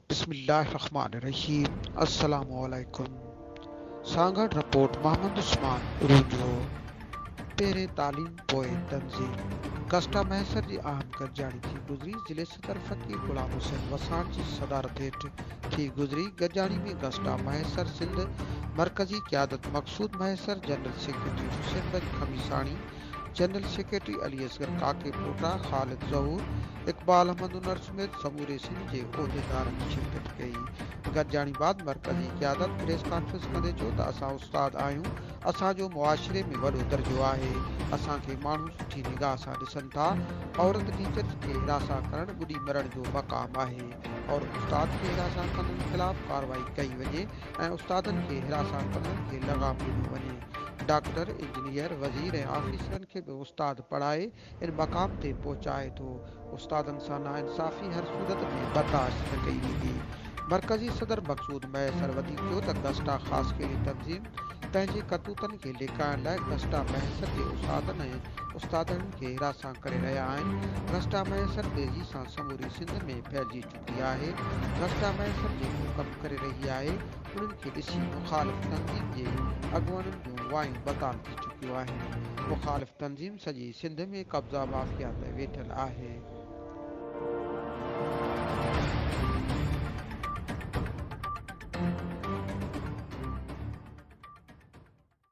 بسم الله الرحمٰن الرحيم السلام عليڪم سانگهڙ رپورٽ محمد عثمان اروجو پهرين تعليم پوء تنظيم ڪسٽا مهيسر جي اهم گڏجاڻي ٿي گذري ضلعي صدر فقير غلام حسين وساڻ جي صدارت هيٺ ٿي گذري گڏجاڻي ۾ ڪسٽا مهيسر سنڌ مرڪزي قيادت Maqsood Mahesar general secretary Hussain Bakhsh Khamisani general secretary Ali Asghar Kakepota, Khalid ظهور، اقبال احمد انور سميت سموري سنڌ جي عهديدارن شرڪت ڪئي. گڏجاڻي بعد مرڪزي قيادت پريس ڪانفرنس ڪندي چيو ته اسان استاد آهيون، اسان جو معاشري ۾ وڏو درجو آهي، اسان کي ماڻهو سٺي نگاهه سان ڏسن ٿا، عورت ٽيچرز کي حراسان ڪرڻ ٻڏي مرڻ جو مقام آهي، عورت استاد کي حراسان ڪندڙن خلاف ڪارروائي ڪئي وڃي ۽ استادن کي حراسان ڪندڙن کي لغام ڏنو وڃي. ڊاڪٽر، انجنيئر، وزير ۽ آفيسرن کي به استاد پڙهائي ان مقام تي پهچائي ٿو. استادن سان ناانصافي هر صورت ۾ برداشت نه ڪئي ويندي. مرڪزي صدر مقصود مهيسر وڌيڪ چيو ته گسٽا خاصخيلي تنظيم پنهنجي ڪرتوتن کي لڪائڻ لاء گسٽا مهيسر جي اساتذن ۽ استادڻين کي حراسان ڪري رهيا آهن. گسٽا مهيسر تيزي سان سموري سنڌ ۾ ڦهلجي چڪو ڪئي آهي، نقشه ۾ سمجهي جو ڪم ڪري رهي آهي، انهن کي ڏسي مخالف تنظيم جي اڳواڻن جون وايون بتال ٿي چڪيون آهن، مخالف تنظيم سڄي سنڌ ۾ قبضا مافيا تي ويٺل آهي.